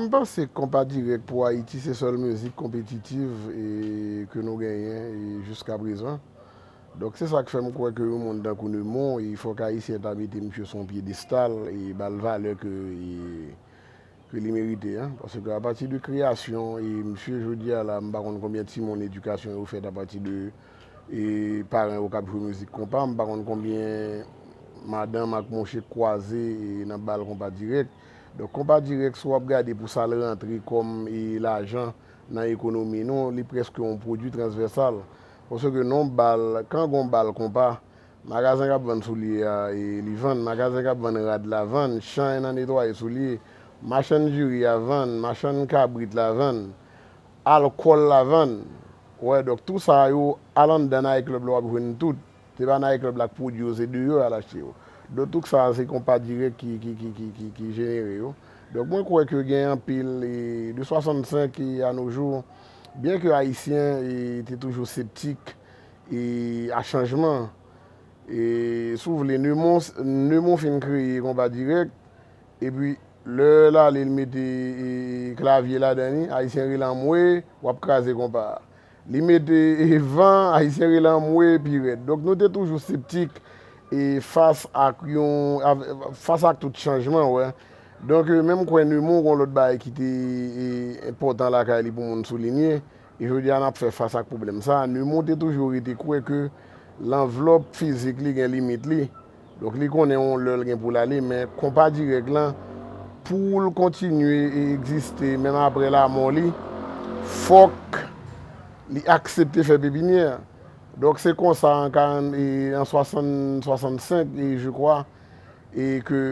M panse konpa dirèk pou Ayiti se sèl mizik konpetitiv ke nou genyen jiska prezan. Donk se sa k fè m kwè ke yon moun tankou Nemon, fòk Ayisyen ta mete misye sou yon pyedestal e ba l valè ke ke li merite an, paske ke apati de kreyasyon e misye jodi a la m pa konn konbyen timoun edikasyon yo fèt apati de e paran yo k ap jwe mizik konpa, m pa konn konbyen madanm ak mouche k kwaze e nan bal konpa dirèk. Donk konpa dirèk si w ap gade pou sa l rantre kòm e lajan nan ekonomi nou, li prèske yon pwodui transvèsal. Paske ke non bal, kan gon bal konpa, Magazen k ap vann soulye a, li vann. Magazen k ap vann rad la vann. Chay nan netwaye soulye. Machann diri a vann. Machann kabrit la vann. Alkòl la vann. Ou wè, donk tou sa yo, al anndan nayiklèb la w ap jwenn tout. Se pa nayiklèb la k pwodui yo, se deyò y al achte yo. Donk tout sa a se konpa dirèk ki jenere yo. Donk mwen kwè ke gen anpil, de 65 e a no jou, byenke Ayisyen te toujou septik, E a chanjman. E si w vle Neumon, Neumon fin kreye Konpa Dirèk, epi lè l ale l mete klavye ladan li, Ayisyen rele anmwe, w ap kraze konpa a. Li mete van, Ayisyen rele anmwe pi rèd. Donk nou te toujou septik fas ak yon, fas ak tout chanjman, wè. Donk menm kwè Neumon gen yon lòt bagay ki te enpòtan lakay li pou moun soulinye, Jodi a n ap fè fas ak pwoblèm sa a. Numou te toujou rete kwè ke lanvlòp fizik li gen limit li, donk li konnen yon lè l gen pou l ale, men konpa dirèk lan, pou l kontinye e egziste menm apre lamò li, fòk li aksepte fè pepinyè. Donk se konsa an 40 e an 60, 65 e je kwa, e ke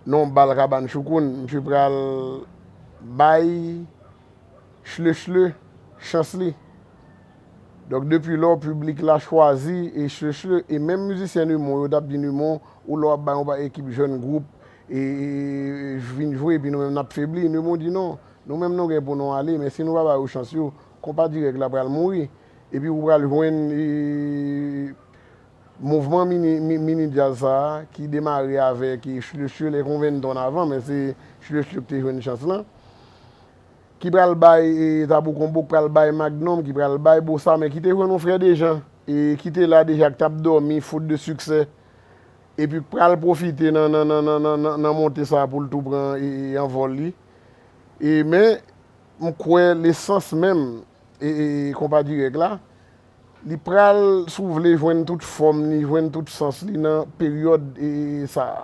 nan yon bal kabann choukoun, msye pral bay. Chle chle, chans li. Donk depi lò piblik la chwazi e chle chle e menm mizisyen numon yo tap di numon ou lè wap bay yon pa ekip jèn gwoup e vin jwe epi nou menm nap febli numon di non nou menm nou gen pou nou ale men si nou pa ba yo chans yo konpa dirèk la pral mouri epi ou pral jwenn mouvman mini djaz sa ki demare avèk chle chle lè konvenn ton avan men se chle chle ki te jwenn chans lan. Ki pral bay Tabou Konbo, k pral bay Magnum, ki pral bay Bossa, men ki te jwenn yon Frè Dejan, e ki te la deja k t ap dòmi faute de succès, epi k pral pwofite nan nan nan nan nan nan monte sa pou l tou pran e anvòl li. E men, m kwè lesans menm e e Konpa Dirèk la, Li pral, si w vle, jwenn tout fòm li, jwenn tout sans li nan peryòd sa a.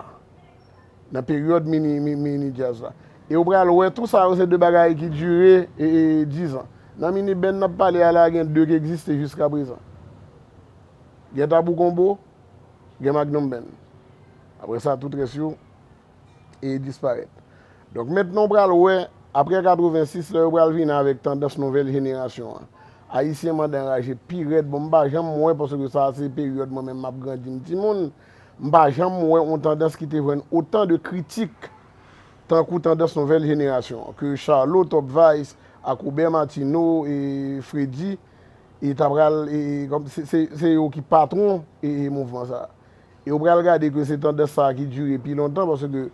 Nan peryòd mini djaz la. E ou pral wè tou sa yo se de bagay ki dire dizan. Nan mini band n ap pale a la gen de ki egziste jiska prezan. Gen Tabou Combo, gen Magnum Band. Aprè sa tout rès yo. e li disparèt. Donk mentnan w pral wè, aprè 86 lè yo pral vini avèk tandans nouvèl jenerasyon an. Ayisyen mande anraje pi rèd, bon m pa janm wè, paske sa a se peryòd mwen menm m ap grandi m timoun, m pa janm wè yon tandans ki te jwenn otan de kritik tankou tandans nouvèl jenerasyon an, ke Charlot, Top Vice, ak Robert Martineau, e Fredi, e ta pral, e, se yo ki patwon, e, mouvman sa a. E ou pral gade ke se tandans sa a ki dire pi lontan paske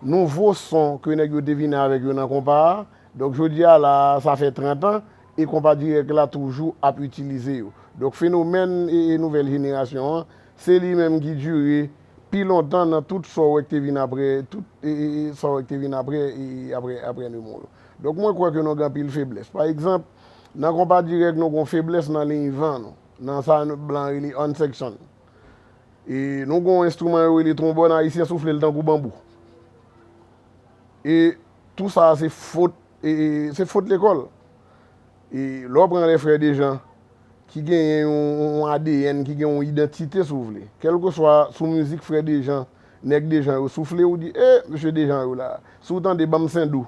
nouvo son ke nèg yo te vini avèk yo nan konpa a, donk jodi a la a sa fè 30 an e konpa dirèk la toujou ap itilize yo. Donk fenomèn nouvèl jenerasyon an se li menm ki dire pi lontan nan tout sa w wè ki te vin aprè tout sa w wè ki te vin aprè aprè Nemo yo. Donk mwen kwè ke nou gen anpil feblès. Pa egzanp, nan konpa dirèk nou gen yon feblès nan liy van nou, nan sa blan rele unsection. E nou gen yon enstriman yo rele twonbòn ayisyen soufle l tankou banbou. E tou sa se fot, se fot lekòl. E lè w pran lè frè Dejan ki genyen yon adn, ki gen yon idantite si w vle. Kèlkeswa sou mizik frè Dejan, nèg Dejan yo soufle ou di e mesye Dejan yo la. Si w tande banm sendou.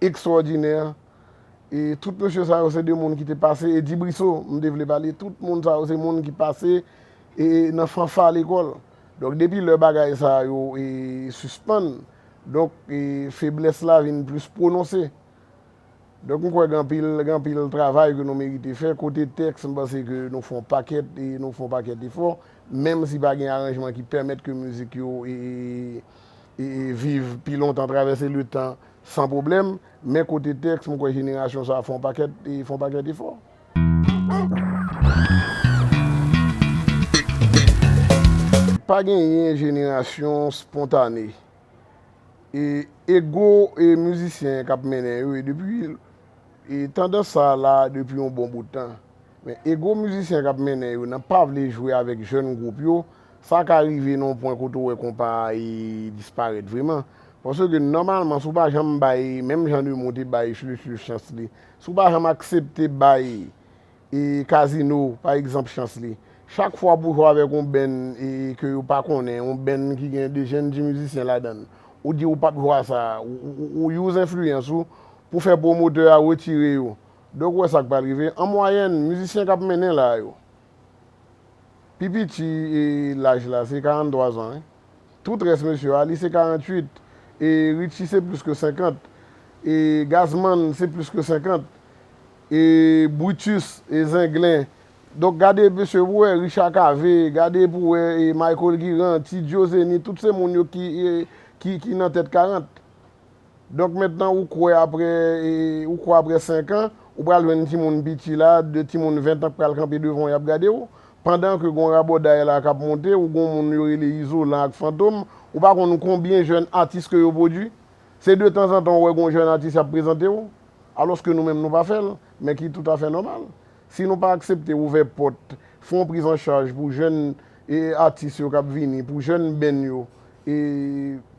Ekstwòdinè e tout mesye sa yo se de moun ki te pase e di briso m te vle pale tout moun sa yo se moun ki pase e nan fanfa lekòl donk depi lè bagay sa yo e sispann donk e feblès la vin plis pwononse donk m kwè gen anpil gen anpil travay ke nou merite fè kote tèks m panse ke nou fon pakèt e nou fon pakèt efò menm si pa gen aranjman ki pèmèt ke mizik yo e e viv pi lontan travèse letan San pwoblèm, men kote tèks, m kwè jenerasyon sa a fè yon pakèt, fè yon pakèt efò. Pa genyen jenerasyon spontane. E ego e mizisyen k ap mennen yo e depi, e tandans sa a la depi yon bon bout tan. Men ego mizisyen k ap mennen yo nan pa vle jwe avèk jèn gwoup yo, sa ka rive nan yon pwen kote ou wè konpa a disparèt vreman. Paske nòmalman si w pa janm bay menm jan de moun te bay Shlushlush chans li, si w pa janm aksepte bay Casino pa egzanp chans li, chak fwa pou w jwe avèk yon band ke yo pa konnen, yon band ki gen 2 jèn ti mizisyen ladan l, ou di ou p ap jwe a sa, ou use enfliyans ou pou fè pwomotè a retire yo. Dok wè sak pral rive. An mwayèn, mizisyen kap mennen la yo, pi piti laj la se 43 zan wi. Tout rès mesye, Arly se 48, e Richie se plis ke 50, e Gazman se plis ke 50, e Brutus, e Zenglen. Donk gade mesye pou wè Richard Cavé, gade pou wè Michael Guirand, T-Djo Zeny, tout se moun yo ki nan tèt 40. Donk mentnan ou kwè aprè ou kwè aprè 5 an ou pral jwenn timoun piti la, 2 timoun 20 ans k pral kanpe devan w y ap gade w? Pandan ke gon rabòday la k ap monte ou gon moun yo rele Izolan ak Fantom ou pa konn konbyen jèn atis ke yo pwodui? Se de tanzantan ou wè gon jèn atis y ap prezante w alòs ke nou menm nou pa fè l men ki toutafè nòmal. Si nou pa aksepte ouvè pòt fon priz an chaj pou jèn atis yo k ap vini, pou jèn benn yo,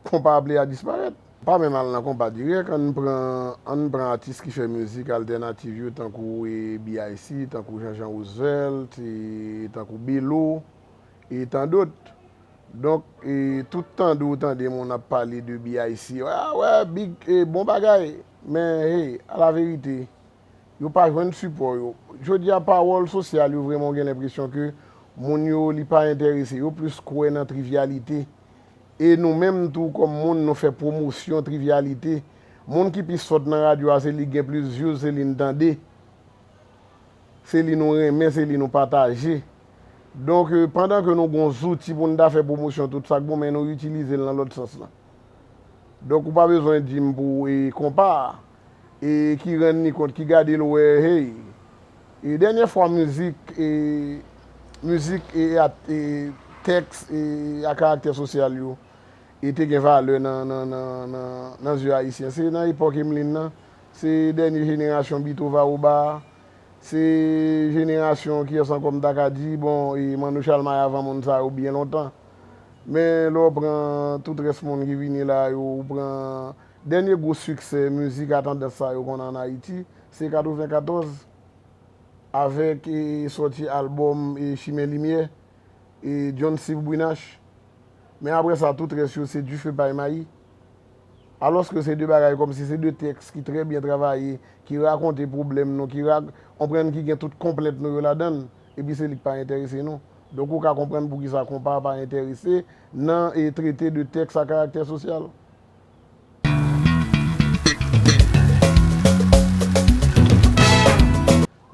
konpa ap lè a disparèt. Pa menm al nan konpa dirèk, ann pran ann pran atis ki fè mizik altènativ yo tankou BIC, tankou Jean-Jean Roosevelt, tankou Belo e tan dot. Donk, tout tande ou tande moun ap pale de BIC, a wè, big, bon bagay! Men, hey, alaverite, yo pa jwenn sipò yo. Jodi a pawòl sosyal yo vrèman ou gen lenpresyon ke moun yo li pa enterese yo plis kwè nan trivyalite. E nou menm tou kòm moun nou fè pwomosyon trivyalite. Moun ki pi sòt nan radyo a se li gen plis vyouz se li n tande. Se li nou renmen se li nou pataje. Donk pandan ke nou gon zouti pou n ta fè pwomosyon tout sa k bon men nou itilize l nan lòt sans lan. Donk ou pa bezwen di m pou e konpa a. e ki rann li kont ki gade l wè hey e dènyè fwa mizik e mizik e e tèks e a karaktè sosyal yo e te gen valè nan nan zye ayisyen se nan epòk Emeline nan se dènye jenerasyon Bitova Oba se jenerasyon kiyès ankò m ta ka di bon e Manno Chalmay avan moun sa yo byen lontan men lè w pran tout rès moun ki vini la yo ou pran. Dènye gwo siksè mizik a tandans sa yo konn an Ayiti, se 94, avèk sòti albòm Chimen Limyè, John Steve Brunache. Men aprè sa, tout rès yo se dife pay mayi. Alòske se de bagay kòmsi se de tèks ki trè byen travaye, ki rakonte pwoblèm nou, ki ra, onprann ki gen tout konplent nou yo ladan l, epi se li k pa enterese nou. Donk ou ka konprann poukisa konpa pa enterese nan trete de tèks a karaktè sosyal.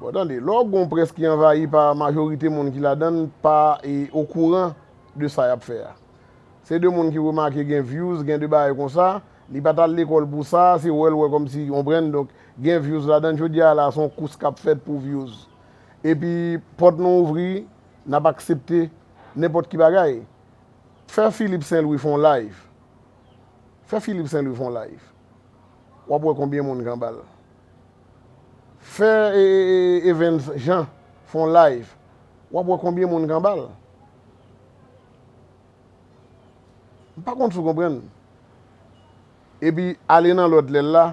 Bon tande, lè w gen yon près ki anvayi pa majorite moun ki ladan l pa okouran de sa y ap fè a. Se de moun ki remake gen vyouz, gen de bagay konsa, li pa t al lekòl pou sa, se wè l wè kòm si, konprann, donk gen vyouz ladan l. Jodi a la a se yon kous k ap fèt pou vyouz. Epi pòt nou ouvri, n ap aksepte nenpòt ki bagay. Fè Philippe Saint Louis fè yon live. Fè Philippe Saint Louis fon live wap wè konbyen moun kanbal Fè Evens Jean fon live wap wè konbyen moun kanbal M pa konn si w konprann Epi ale nan lòt lè l la.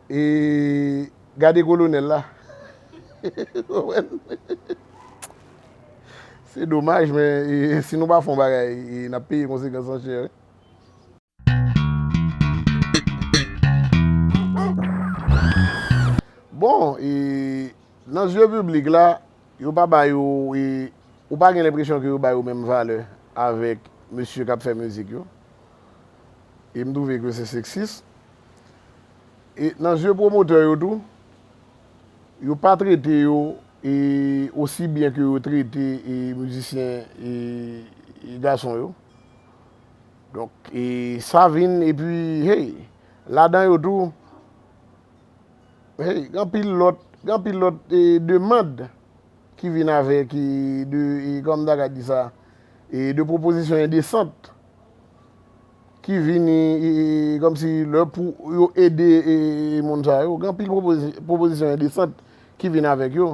E gade kolonel la. Ou wè l. Se domaj men si nou pa fè yon bagay n ap peye konsekans lan chè wi. Bon e nan zye piblik la yo pa ba yo e ou pa gen lenpresyon ke yo ba yo menm valè avèk mesye k ap fè mizik yo. E m twouve ke se seksis. E nan zye pwomotè yo tou, yo pa trete yo e osi byen ke yo trete e mizisyen e gason yo. Donk e sa vin e pi hey, ladan yo tou, hey, gen anpil lòt, gen anpil lòt e demand ki vin avèk e de, e kòm ta ka di sa, e de pwopozisyon endesant. ki vini kòmsi lè pou yo ede moun sa yo, gen anpil pwopozisyon endesant ki vin avèk yo.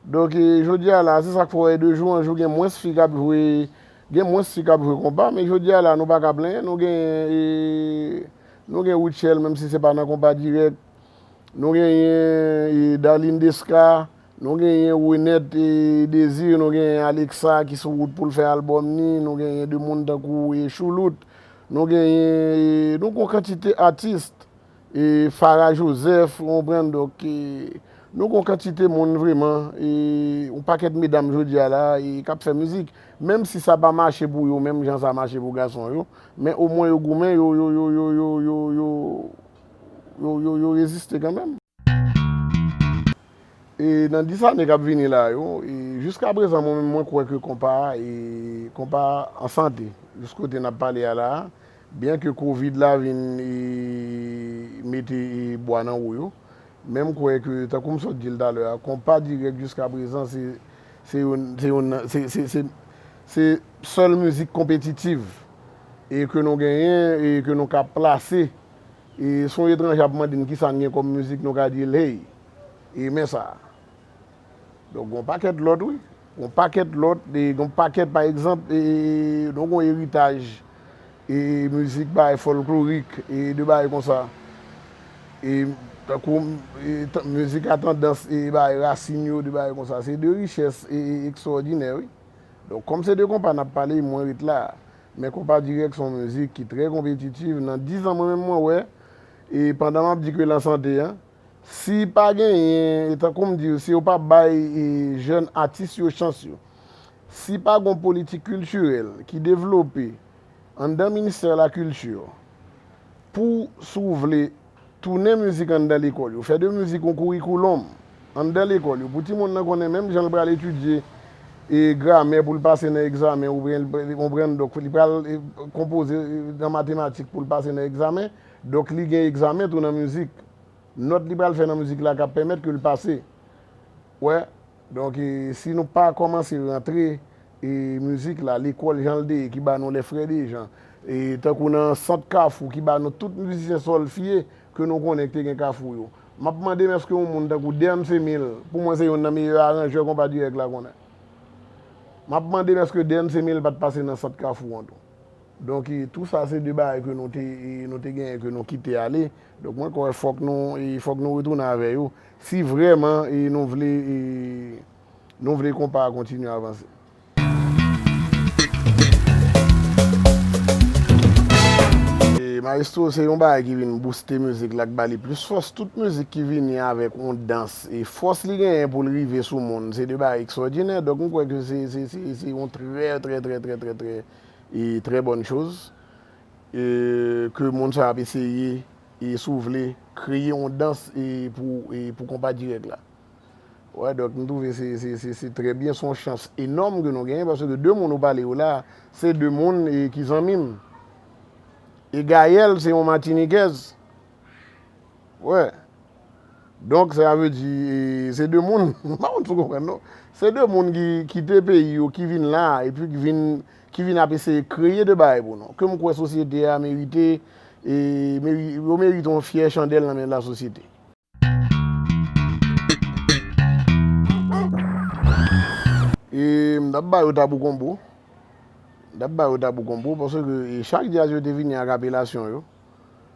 Donk jodi a la, se sa k fè w wè de jou an jou gen mwens fi k ap jwe, gen mwens fi k ap jwe konpa. Men jodi a la nou pa ka plenyen, nou genyen, nou gen Rutshelle menm si se pa nan konpa dirèk, nou genyen Darline Desca. Nou genyen Renette e Désir, nou genyen Alexa ki sou wout pou l fè album ni, nou genyen de moun tankou e Choulout, nou genyen e nou gon kantite artist e Farah Joseph ou konprann donk e nou gon kantite moun vreman e yon pakèt medam jodi a la e kap fè mizik menm si sa pa mache pou yo menm jan sa mache pou gason yo men o mwen yo goumen yo yo yo yo yo yo yo yo yo yo reziste kanmenm. E nan 10 ane kap vini la yo, e jiska prezan mwen menm mwen kwè ke konpa, e konpa an sante jis kote nap pale a la a, byen ke kovid la vin e mete e bwa nan wou yo, men m kwè ke tankou m sot di l talè a, konpa dirèk jiska prezan se se yon se yon nan se se se se sèl mizik konpetitiv e ke nou genyen e ke nou ka plase e son etranje ap mande n kisa n gen kòm mizik nou ka di l hey. e men sa a. Donk gon pakèt lòt wi, gon pakèt lòt, gon pakèt pa egzanp e donk gon eritaj e mizik bay folklorik e de bay kon sa. E tankou mizik a tandans e bay rasin yo de bay kon sa. Se de richès e ekstwòdinè wi. Donk kòm se de konpa nap pale mwen ret la. Men konpa dirèk son mizik ki trè konpetitiv nan dizan mwen menm mwen wè e pandan map di ke lan sante an. Si pa genyen, e tankou m di yo, si yo pa bay jèn atis yo chans yo, si pa gon politik kiltirèl ki devlope anndan ministè la kilti pou si w vle tounen mizik anndan lekòl yo, fè de mizik yon kourikoulòm anndan lekòl yo pou timoun nan konnen menm jan l pral etidye gramè pou l pase nan egzamen oubyen konprann dòk li pral konpoze nan matematik pou l pase nan egzamen. Donk li gen egzamen tou nan mizik. Nòt li pral fè nan mizik la ka pèmèt ke l pase. Ou wè? Donk si nou pa kòmanse rantre mizik la lekòl jan l te ye ki ba nou lè frè Dejan, tankou nan sant kafou ki ba nou tout mizisyen sòlfye ke nou konnen ki te gen kafou yo. M ap mande m èske yon moun tankou Dernce Emile, pou mwen se youn nan meyè aranjè konpa dirèk la konnen. M ap mande m èske Dernce Emile pa t pase nan sant kafou an tou. Donk tou sa se de bagay ke nou te nou te genyen ke nou kite ale. Donk mwen kwè fòk nou fòk nou retounen avè yo si vrèman nou vle nou vle konpa a kontinye avanse. Maestro se yon bagay ki vin bouste mizik la, k ba li plis fòs. Tout mizik ki vini avèk yon dans Fòs li genyen pou l rive sou moun se de bagay ekswòdinè. Donk m kwè ke se yon trè trè trè trè trè trè e trè bòn choz ke moun sa ap eseye e si w vle kreye yon dans e pou konpa dirèk la. Wè donk m twouve se trè byen se yon chans enòm ke nou genyen paske de moun ou pale yo la se de moun ki zanmi m. E Gayèl se yon matinikèz. Wè. Donk sa vle di se 2 moun, m pa konn si w konprann non. Se 2 moun ki kite peyi yo, ki vin la e pi ki vin ap eseye kreye 2 bagay pou nou. Ke m kwè sosyete a merite e yo merite yon fyè chandèl nan men la sosyete. E m t ap ba yo tabou konbo. M t ap ba yo tabou konbo paske chak djaz yo te vini ak apelasyon yo.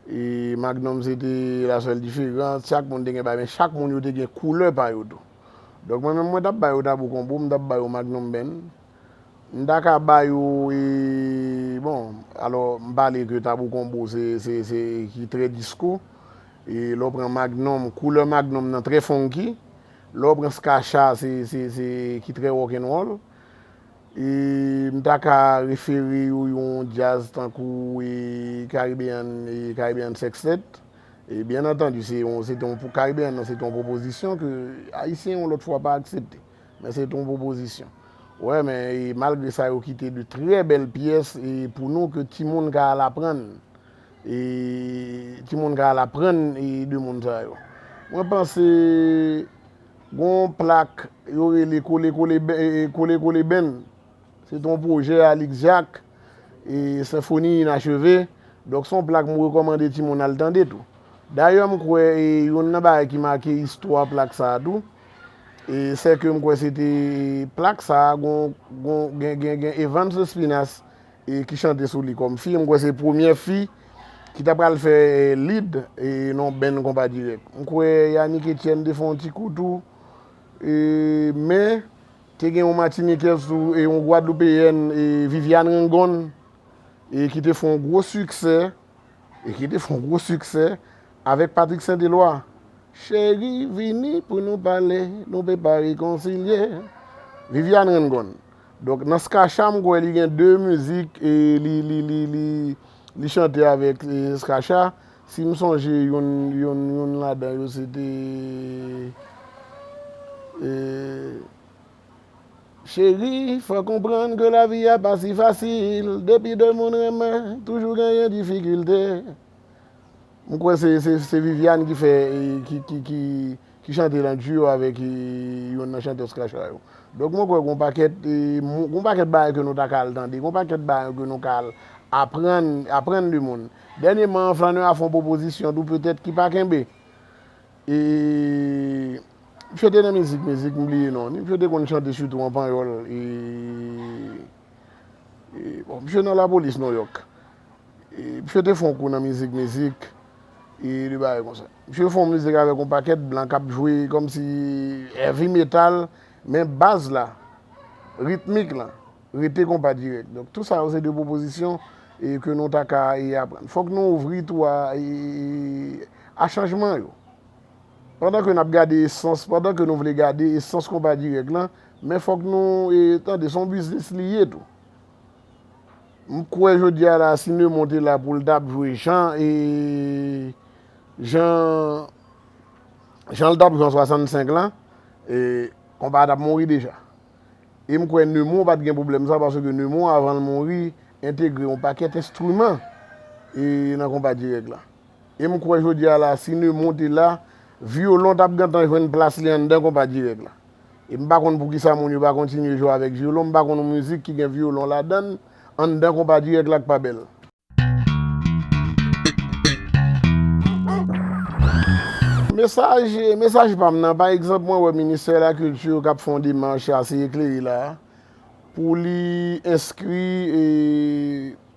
E Magnum se te la sèl diferans. Chak moun te gen bagay, men chak moun yo te gen koulè pa yo tou. Donk mwen menm mwen ta ba yo Tabou Combo, m ta ba yo Magnum Band. M ta ka ba yo e, bon, alò m pale ke Tabou Combo se, se, se ki trè disko. E lè w pran Magnum, koulè Magnum nan trè funky. Lè w pran Skah Shah se, se, se ki trè rock'n'roll. E m ta ka refere yo yon djaz tankou e Caribbean e Caribbean Sextet. E byen antandi se yon, se te yon pou Caribbean nan se te yon pwopozisyon ke Ayisyen yon lòt fwa pa aksepte. Men se te yon pwopozisyon. Ou wè men e malgre sa yo kite de trè bèl pyès e pou nou ke timoun ka al aprann. E timoun ka al aprann e de moun sa yo. Mwen panse Gon yon plak yo rele Kole Kole Ben, Kole Kole Ben, se te yon pwojè Alix Jacques, Senfoni Inacheve, donk se yon plak m rekòmande timoun al tande tou. Dayè m kwè youn nan bagay ki make istwa plak sa a tou, sè ke m kwè se te plak sa a gen Evans Lespinas, e ki chante sou li kòm fi, m kwè se premyè fi ki ta pral fè lead nan yon band konpa dirèk. M kwè Yanick Etienne te fè yon ti kou tou, men te gen yon matinikèz tou, yon gwadloupeyèn Viviane Rengonn ki te fè yon gwo siksè, ki te fè yon gwo siksè avèk Patrick Saint Eloi. Cheri vini pou nou pale, nou pe pa rekonsilye. Viviane Rengonn. Donk nan Skah-Shah m kwè li gen 2 mizik li chante avèk Skah-Shah, si m sonje youn ladan yo se te Cheri fè konprann ke lavi a pa si fasil, depi 2 moun renmen toujou genyen difikilte. M kwè se Viviane ki fè ki chante l an duo avèk yonn nan chantè Scratcha yo. Donk mwen kwè gon pakèt gon pakèt bagay ke nou ta ka al tande, gon pakèt bagay ke nou ka al aprann aprann de moun. Dènyeman Flanneur a fè yon pwopozisyon tou petèt ki pa kenbe. E misye te nan mizik mizik m bliye non li. Misye te konn chante sitou an panyòl e. Misye nan lapolis Nouyòk. Misye te fè yon kou nan mizik, mizik, e de bagay konsa. Misye fè yon mizik avèk yon pakèt blan k ap jwe kòmsi heavy metal, men baz la, ritmik lan, rete konpa dirèk. Donk tou sa yo se de pwopozisyon ke nou ta ka aprann. Fòk nou ouvri tou a chanjman yo. Pandan ke nap gade esans, pandan ke nou vle gade esans konpa dirèk lan, men fòk nou tande son biznis li ye tou. M kwè jodi a la si Nemon te la pou l tap jwe jan e jan jan l tap jwe an 65 lan, konpa a tap mouri deja. E m kwè Nemon pat gen pwoblèm sa paske Nemon avan l mouri entegre yon pakèt enstriman e nan konpa dirèk la. E m kwè jodi a la, si Neumon te la, Violon t ap gentan jwenn plas li anndan konpa dirèk la. E m pa konn poukisa moun yo pa kontinye jwe avèk Violon, m pa konn yon mizik ki gen Violon ladan l, anndan konpa dirèk la k pa bèl. Mesaj, mesaj pa m nan, pa egzanp mwen wè Ministè la Kilti k ap fè yon demach ase eklere la a, pou li enskri e.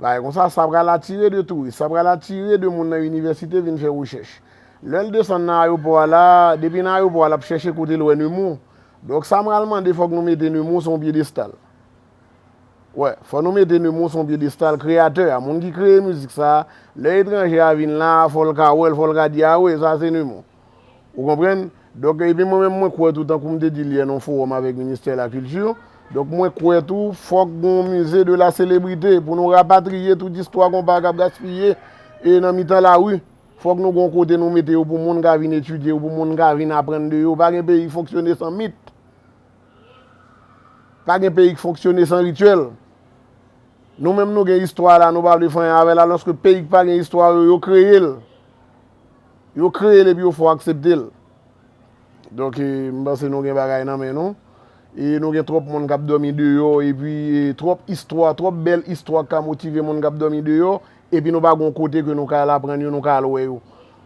Bagay kon sa, sa pral atire de touris, sa pral atire de moun nan inivèsite vin fè rechèch. Lè l desann nan ayopò a la, depi nan ayopò a l ap chèche kote l wè Nemour. Donk sa m pral mande fòk nou mete Nemour sou yon pyedestal. Wè, fò nou mete Nemour sou yon pyedestal, kreyatè a, moun ki kreye mizik sa, lè etranje a vin la, fò l ka wè l, fò l ka di, a wi, sa se Nemour. Ou konprann? Donk, epi mwen menm mwen kwè tou, tankou m te di l yè nan yon fowòm avèk Ministè la kilti, donk mwen kwè tou fòk gen yon mize de la selebrite pou nou rapatriye tout istwa konpa k ap gaspiye e nan mitan lari. Fòk nou gen yon kote nou mete yo pou moun ka vin etidye yo, pou moun ka vin aprann de yo. Pa gen peyi k fonksyone san mit. Pa gen peyi k fonksyone san rityèl. Nou menm nou gen istwa la, nou pa vle fanyen avè l alòske peyi k pa gen istwa yo, yo kreye l. Yo kreye l epi yo fè w aksepte l. Donk m panse nou gen bagay nan men nou. E nou gen twòp moun k ap dòmi deyò epi twòp istwa, twòp bèl istwa k ka motive moun k ap dòmi deyò epi nou pa gen yon kote ke nou ka al aprann yo, nou ka al wè yo.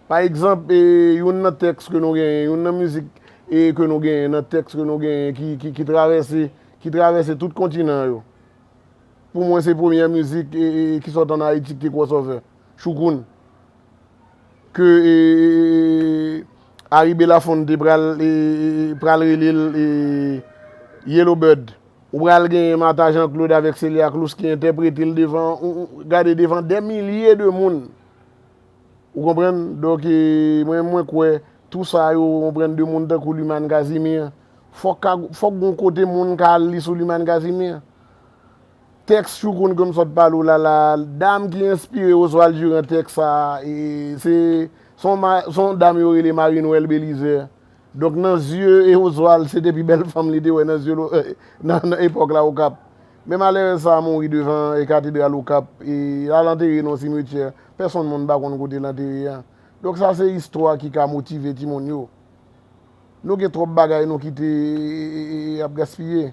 Pa egzanp, youn nan tèks ke nou genyen, youn nan mizik ke nou genyen, nan tèks ke nou genyen ki travèse, ki travèse tout kontinan yo. Pou mwen se premyè mizik ki sot an Ayiti ki te crossover. Choukoun. Ke Harry Belafonte pral rele l Yellow Bird. Ou pral genyen Martha Jean Claude avèk Celia Cruz ki entèprete l devan, gade devan dè milye de moun. Ou konprann? Donk mwen mwen kwè tou sa yo ou konprann de moun tankou Lumane Casimir. Fòk gon kote moun ka al li sou Lumane Casimir. Tèks chou koun kem sot pale w la la a, dam ki enspire Oswald Durand tèks sa a, se yon dam yo rele Marie Noëlle Belizaire. Donk nan zye Oswald se te pi bèl fanm li te wè nan zye nan epòk la Okap. Men malerèz sa a mouri devan katedral Okap, e l al antere nan yon simetyè pèsonn moun pa konn kote l antere a. Donk sa se istwa ki ka motive timoun yo. Nou gen twòp bagay nou kite ap gaspiye.